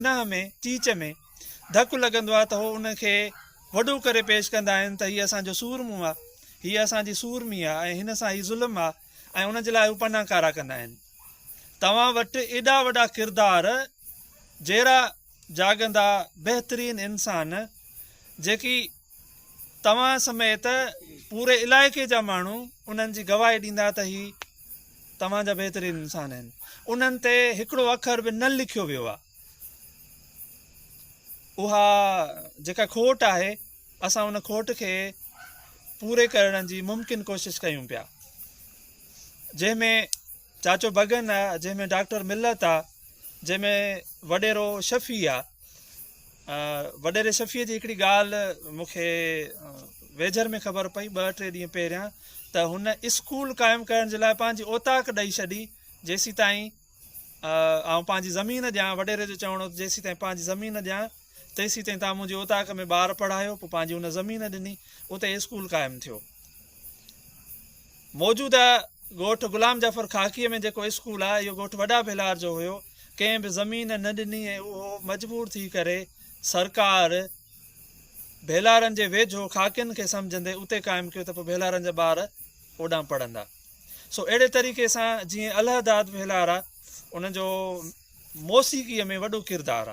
ننهن ۾ چيچ ۾ ڌڪ لڳندو آهي ته هو ان کي وڏو ڪري پيش ڪندا آهن ته هيء اسان جو سورمو آهي، هيء اسان جي سورمي آهي ۽ هن سان ئي ظلم آهي ۽ ان جي لاء هو پناهڪارا ڪندا آهن. توهان وٽ ايڏا وڏا ڪردار جيرا جاڳندا بهترين انسان جيڪي. توهان سميت پوري علائقي جا ماڻهو انهن جي گواهي ڏيندا ته هي توهان جا بهترين انسان آهن. انهن تي هڪڙو اکر به نه لکيو ويو آهي. اها جيڪا کوٽ آهي، اسان ان کوٽ کي پوري ڪرڻ جي ممڪن ڪوشش ڪيون پيا، جنهن ۾ چاچو بگن آ، جنهن ۾ ڊاڪٽر ملت آ، جنهن ۾ وڏيرو شفيع آ. وڏيري شفيع جي هڪڙي ڳالهه مون کي ويجهر ۾ خبر پئي ٻه ٽي ڏينهن پهريان ته هن اسڪول قائم ڪرڻ جي لاء پنهنجي اوطاق ڏئي ڇڏي جيسيتائين آئون پنهنجي زمين ڏيان وڏيري جو چوڻ هو ته جيسيتائين پنهنجي زمين ڏيان تيسين تائين توهان منهنجي اوطاق ۾ ٻار پڙهايو. پوء پنهنجي ان زمين ڏني. اتي اسڪول قائم ٿيو. موجوده ڳوٺ غلام جعفر خاڪيء ۾ جيڪو اسڪول آهي، اهو ڳوٺ وڏا ڀيلار جو هيو. ڪنهن به زمين نه ڏني ۽ اهو مجبور ٿي ڪري سرڪار ڀيلارن جي ويجهو خاڪين کي سمجهندي اتي قائم ڪيو ته پوء ڀيلارن جا ٻار اوڏانهن پڙهندا. سو اهڙي طريقي سان جيئن الهه داد ڀيلار آ، ان جو موسيقيء ۾ وڏو ڪردار آ.